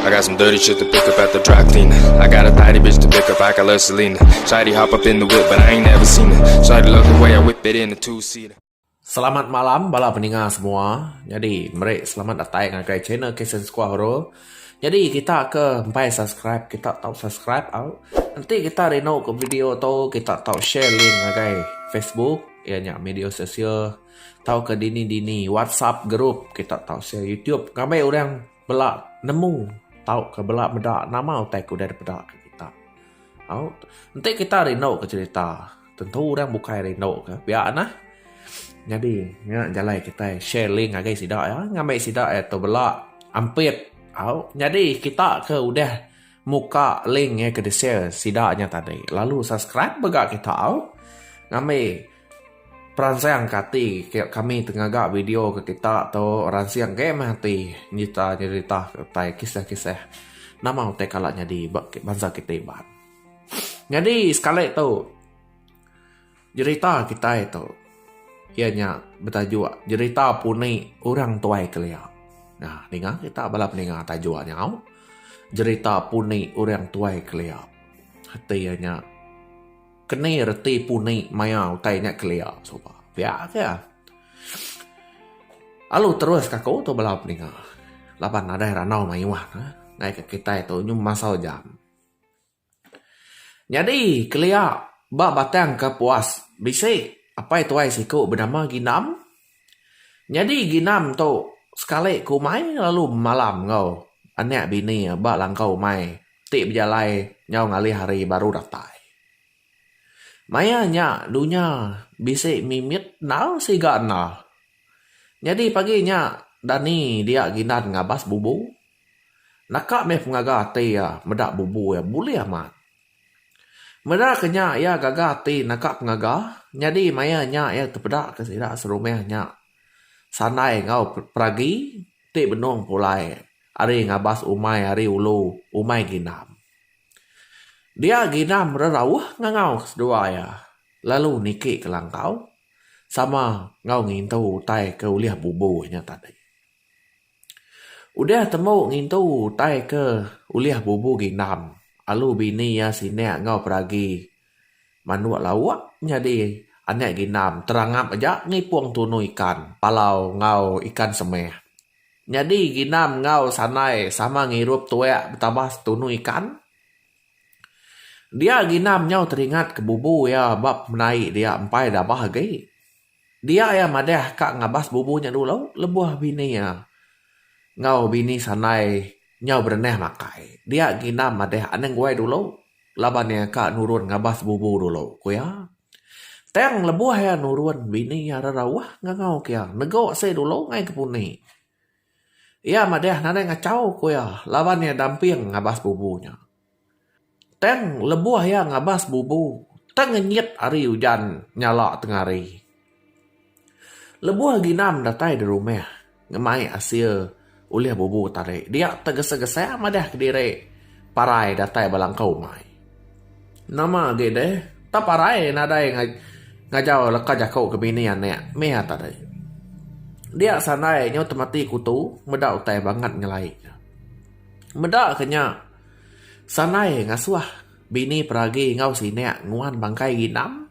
I got some dirty shit to pick up at the dry clean. I got a tidy bitch to pick up, I got love Selena. Shady hop up in the whip, but I ain't never seen it. Shady love the way I whip it in a two seater. Selamat malam bala peninga semua. Jadi, meri selamat datai ngagai channel Kesen Squad Horror. Jadi, kita ke empai subscribe, kita tau subscribe au. Nanti kita rindu ke video tu, kita tau share link ngagai Facebook, ianya media sosial. Tauka dini dini WhatsApp group kita tau share YouTube ngabai orang bela nemu tauka bela meda nama utai ke udah dipeda ka kita. Au enti kita rindu ka cherita tentu orang bukai rindu ka pia nah. Nyadi nya jalai kitai share link ngagai sida iya ngambi sida iya tu bela ampit au nyadi kita ke udah muka link iya ke di share sida nya tadi lalu subscribe mega kita au ngambi Peransang ke ati kami ti ngaga video ke kita tu ransing agi meh ati nyerita nyerita utai kisah kisah nama utai kala nyadi ba bansa kita iban. Nyadi sekali tu nyerita kitai tu iya nya betajuk nyerita puni orang tuai kelia. Nah ninga kita bala peninga tajuk nya au nyerita puni orang tuai kelia ati iya nya. Keni reti puni maya utai nya kelia suba? Pia ke. Alu terus ka aku tu bala peninga laban nadai randau mayuh ne ngai ka kitai tu nyum masau jam. Nyadi kelia ba batang kapuas bisi apai tuai siku benama Ginam. Nyadi ginam tu sekali ke umai lalu malam enggau anak bini iya ba langkau umai ti bejalai nyau ngalih hari baru datai. Maya nya dunya bisi mimit endar siga endar. Nyadi pagi nya Dani dia gindan ngabas bubu. Naka meh pengaga ati iya meda bubu iya bulih amat. Meda ke nya iya gaga ati naka pengaga nyadi maya nya iya tepeda ke sida serumah nya sandai enggau peragi ti benung pulai ari ngabas umai ari ulu umai ginam. Dia ginam rerauh ngangau ke seduai iya lalu niki ke langkau sama enggau ngintu utai ke ulih bubu iya tadi. Udah temu ngintu utai ke ulih bubu ginam, alu bini iya sinak enggau peragi manuk lauk nyadi anak ginam terangap aja ngipung tunu ikan palau enggau ikan semeh. Nyadi ginam enggau sandai sama ngirup tuak betambah setunu ikan. Dia ginam nyau teringat ke bubu iya ba pemendai dia empai dabah agi. Dia iya madah ka ngabas bubu nya dulu lebuh bini iya enggau bini sandai nyau berenah makai. Dia gina madah anang guai dulu laban iya ka nurun ngabas bubu dulu, ku iya. Tang lebuh iya nurun bini iya rerauh ngangau ke iya nego asai dulu ngai ke puni. Iya madah nadai ngachau ku iya laban iya damping ngabas bubu nya. Tang lebuh iya ngabas bubu, tang ngenyit ari ujan nyala tengah hari. Lebuh ginam datai di rumah ngemai asil ulih bubu tadi, dia tegesa-gesa madah kediri parai datai ba langkau umai. Nama agi deh, tang parai nadai ngajau leka jaku ke bini anak meh tadi. Dia sandai nyau temati kutu meda utai bangat nyelai. Meda ke nya, Sanai ngasuh bini peragi enggau sinek nguan bangkai ginam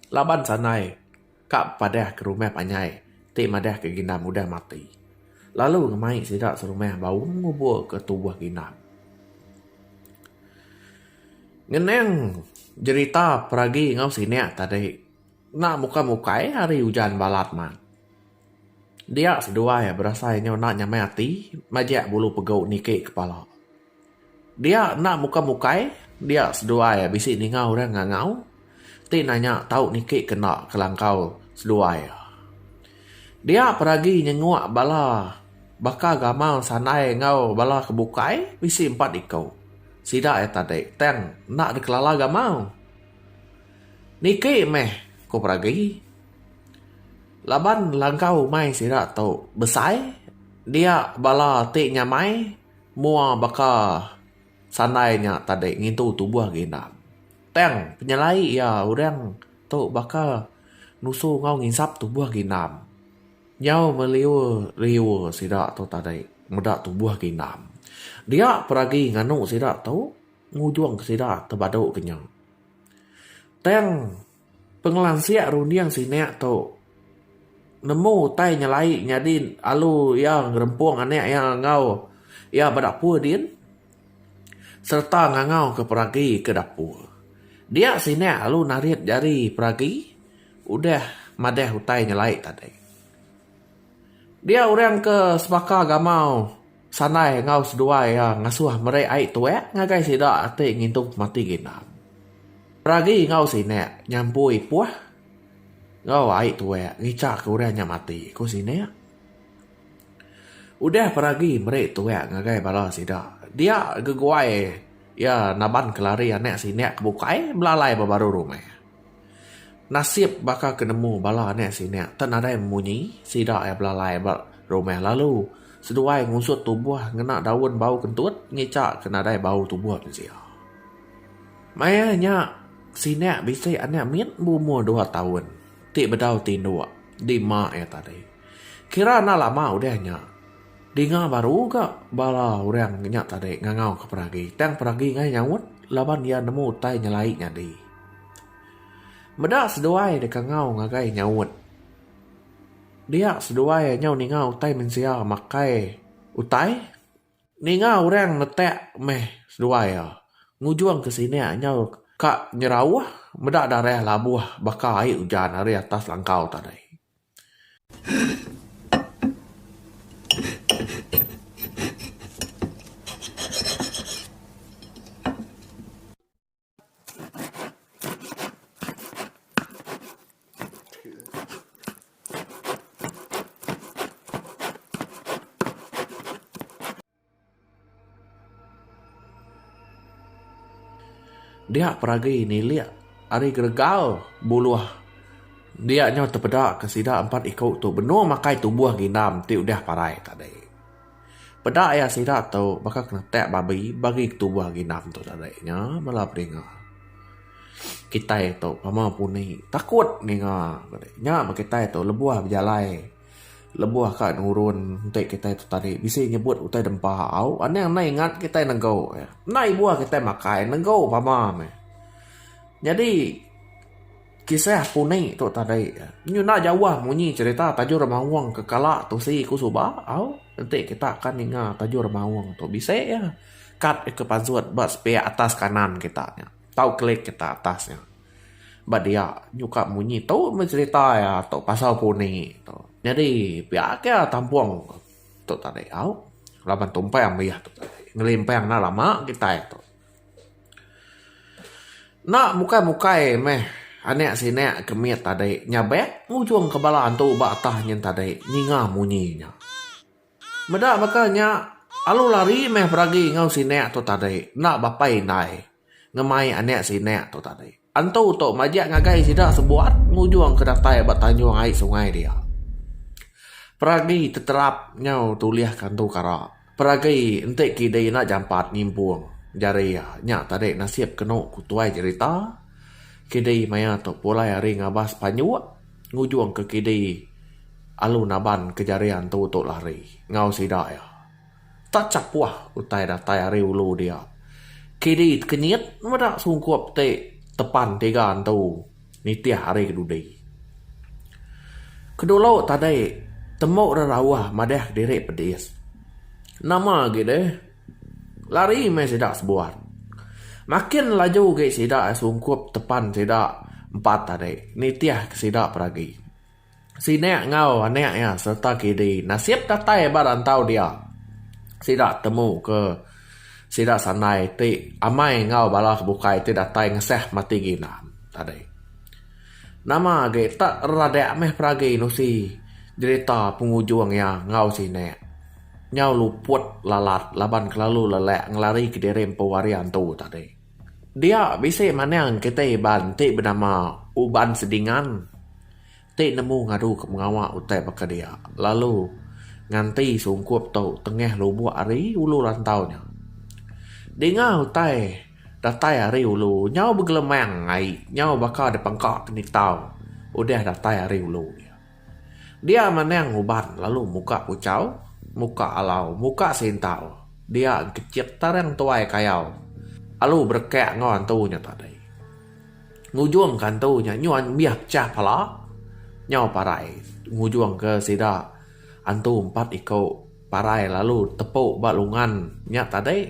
laban Sanai ka bepadah ke rumah panjai ti madah ke ginam udah mati lalu ngemai sida serumah baum ngubur ke tubuh ginam. Ngenang jerita peragi enggau sinek tadi enda mukai-mukai hari ujan balat mat. Dia seduai berasai nyau enda nyamai ati majak bulu pegu niki kepala. Dia enda muka mukai dia seduai bisi ninga orang ngangau ti nanya tau niki ke enda kelangkau seduai. Dia pun agi nyenguk bala baka gamal sandai enggau bala ke bukai bisi empat iku sida iya tadi tang enda dikelala gamal. Niki meh ku peragi. Laban langkau umai sida tu besai, dia bala ti nyamai mua baka sandai nya tadi ngintu tubuh agi enda. Tang penyelai iya orang tu baka nusu enggau nginsap tubuh agi enda. Nyau meliur liur sida tu tadi meda tubuh agi enda. Dia pun agi nganu sida tu ngujung sida tebadu ke nya. Tang. Pengelansik runding sinak tu nemu utai nyelai nyadi alu iya ngerempung anak iya enggau iya ba dapur din sereta ngangau ke peragi ke dapur. Dia sinak alu narit jari peragi udah madah utai nyelai tadi. Dia orang ke sebaka gamau. Sanai enggau seduai iya ngasuh meri ai tuek ngagai sida ati ngintu pemati ginam. Peragi enggau sinek nyampui ipuh enggau ai tuek ngichaka orang nya mati, ku sinek. Udah peragi meri tuek ngagai bala sida, dia geguai iya naban kelari anak sinek ke bukai belalai ba baru rumah. Nasib baka ke nemu bala anak sida enda nadai munyi, sida iya belalai ba rumah lalu seduai ngusut tubuh ngena daun bau kentut ngica ke nadai bau tubuh mensia. Maya nya sida bisi anak mit berumur dua taun ti bedau tinduk di ema iya tadi. Kira enda lama udah nya dinga baru ga bala orang nya tadi ngangau ke peragi tang peragi ngai nyaut laban iya nemu utai nyelai nyadi. Meda seduai deka ngau ngagai nyaut. Dia seduai nyau ninga utai mensia makai utai. Ninga orang netak meh seduai iya. Ngujung ke sini nyau ka nyerauh meda darah labuh baka ai ujan ari atas langkau tadi. Dia peragi nilik ari geregal buluh dia nyau tepeda ke sida empat iku tu benung makai tubuh ginam ti udah parai tadi. Peda iya sida tu baka kenetak babi bagi ketubuh ginam tu tadi nya bala peninga. Kitai tu pama puni takut ninga nya meh kitai tu lebuh bejalai lebuh ka nurun enti kitai tu tadi bisi nyebut utai dempa au anang anai ingat kitai nengau enda ibuh kitai makai nengau pama meh. Nyadi. Kisah puni tu tadi nyuna jauh munyi cerita Tajur Maung ke kala tusi ku suba au enti kita ke ninga Tajur Maung tu bisi iya kad ke pasut ba sepiak atas kanan kita nya tau klik kita atas nya ba dia nyuka munyi tu meh cerita iya tu pasal puni tu nyadi pia ake tampung tu tadi au laban tumpang meh iya tu tadi ngelimpang enda lama kitai tu. Enda mukai mukai meh anek sinek ke mit tadi nya bek ngujung ke bala antu ba atah nyin tadi ninga munyi nya. Meda baka nya alu lari meh beragi enggau sinek tu tadi enda bapai indai ngemai anek sinek tu tadi. Entu tu majak ngagai sida sebuat ngujung ke datai ba tanjung ai sungai dia. Peragi teterap nyau tulihka entu kara. Peragi enti kidi enda jampat nyimpung jari iya, nya tadi nasib kenu ku tuai jerita. Kidi maya tu pulai ari ngabas panjuk ngujungka kidi alu naban ke jari antu tu lari enggau sida iya. Tak chapuh utai datai ari ulu dia. Kedi tekenyit meda sungkup ti tepan tiga entu nitih ari ke dudi. Kedulu tadi tembu rerauh madahka diri pedis. Nama agi deh. Lari meh sida sebuat. Makin laju agi sida sungkup tepan sida empat tadi nitihka sida peragi. Sina enggau anak iya sereta kidi nasib datai ba rantau dia. Sida temu ke sida sandai ti amai enggau bala ke bukai ti datai ngesah mati ginan tadi. Nama agi tak radak meh peragi nusi jerita pengujung iya enggau sina. Nyau luput lalat laban kelalu lelak ngelari kediri empu hari antu tadi. Dia bisi manang kitai iban ti benama Uban Sedingan ti nemu ngadu ke mengawa utai baka dia lalu nganti sungkup tu tengah lubuk ari ulu rantau nya. Dinga utai datai ari ulu nyau begelemang ai nyau baka dipengka ke nitau udah datai ari ulu. Dia manang uban lalu muka kuchau, muka alau, muka sintau, dia engkechit tarang tuai kayau alu berekak enggau antu nya tadi. Ngujungka antu nya nyuan mih pechah pala nyau parai ngujungka sida antu empat iku. Parai lalu tepu ba lungan nya tadi.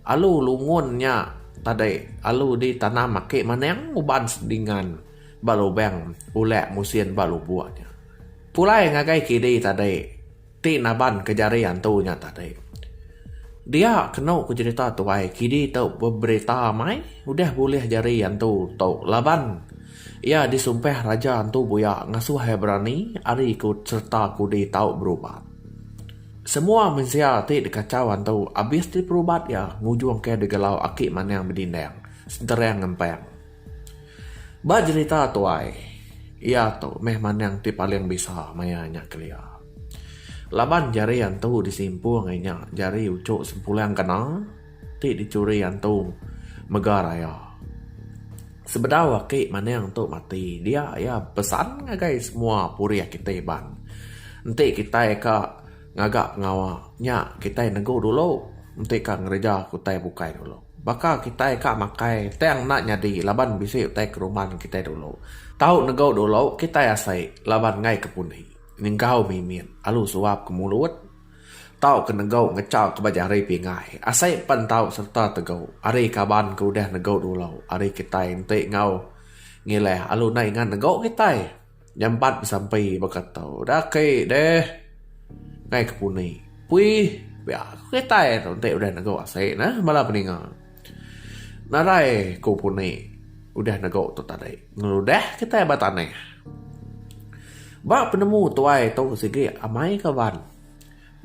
Alu lungun nya tadi alu di tanam aki maning uban sedingan ba lubang ulek musin ba lubok nya. Pulai ngagai kidi tadi ti naban ke jari antu nya tadi. Dia kenu ku jerita tuai kidi tu beberita mai udah bulih jari antu tu laban. Iya disumpah raja antu buya ngasuh iya berani ari ku sereta kudi tau berubat. Semua mensia ti dikachau antu abis ti perubat iya ngujung ke digelau aki manang bedindang senterang ngempang. Ba jerita tuai iya tu meh manang ti paling bisa maya nya kelia. Laban jari antu disimpung inya jari uchu sempulang kena. Ti dicuri antung mega raya. Sebedau aki maning tu mati dia iya bepesan ngagai semua purih kitai Iban. Enti kitai ka ngaga pengawa nya kitai negu dulu enti ka ngereja ke utai bukai dulu. Baka kitai ka makai tang enda nyadi laban bisi utai keruman kitai dulu. Tau negu dulu kitai asai laban ngaika pundi. Nyengkau mimit alu suap ke mulut. Tau ke negau ngecha ke baja hari pingai asai empan tau sereta tegau ari kaban ke udah negau dulau ari kitai enti enggau ngilah alu nai ngan negau kitai nyambat besampi baka tau udah aki deh ngai ke puni puih pia kitai enti udah negau asai neh bala peninga. Nadai ku puni udah nego tu tadi ngeludah kitai ba tanah. Ba penemu tuai tu sigi amai kaban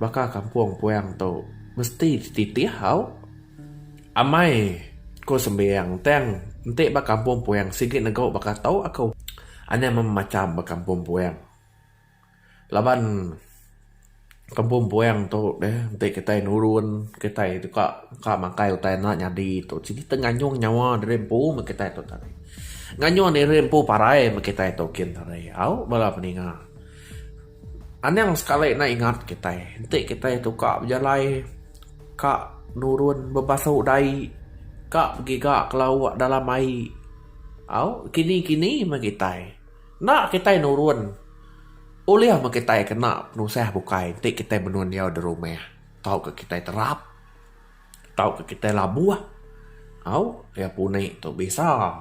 baka kampung puang tu mesti dititih au. Amai ku sembiang tang enti ba kampung puang sigi nego baka tu aku. Anang meh macam ba kampung puang. Laban kampung puang tu deh enti kitai nurun kitai tu ka ka makai utai enda nyadi tu siti kita nganyung nyawa diri empu meh kitai tu tadi. Nganyung diri empu parai meh kitai tu kin tadi au bala peninga. Anang sekali ne ingat kitai enti kitai tu ka bejalai ka nurun bebasu dai ka begiga ke lauk dalam ai au kini kini meh kitai. Enda kitai nurun ulih meh kitai kena penusah bukai enti kitai menua endiau da rumah tauka kitai terap tauka kitai labuh au iya puni tu bisa.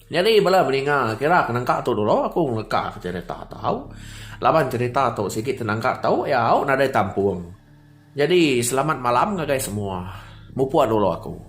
Nyadi bala meninga kira ke nangka tu dulu aku ngeleka cherita tau laban cherita tu sigi tenangka tau iya au nadai tampung. Jadi selamat malam ngagai semua. Mupuk dulu aku.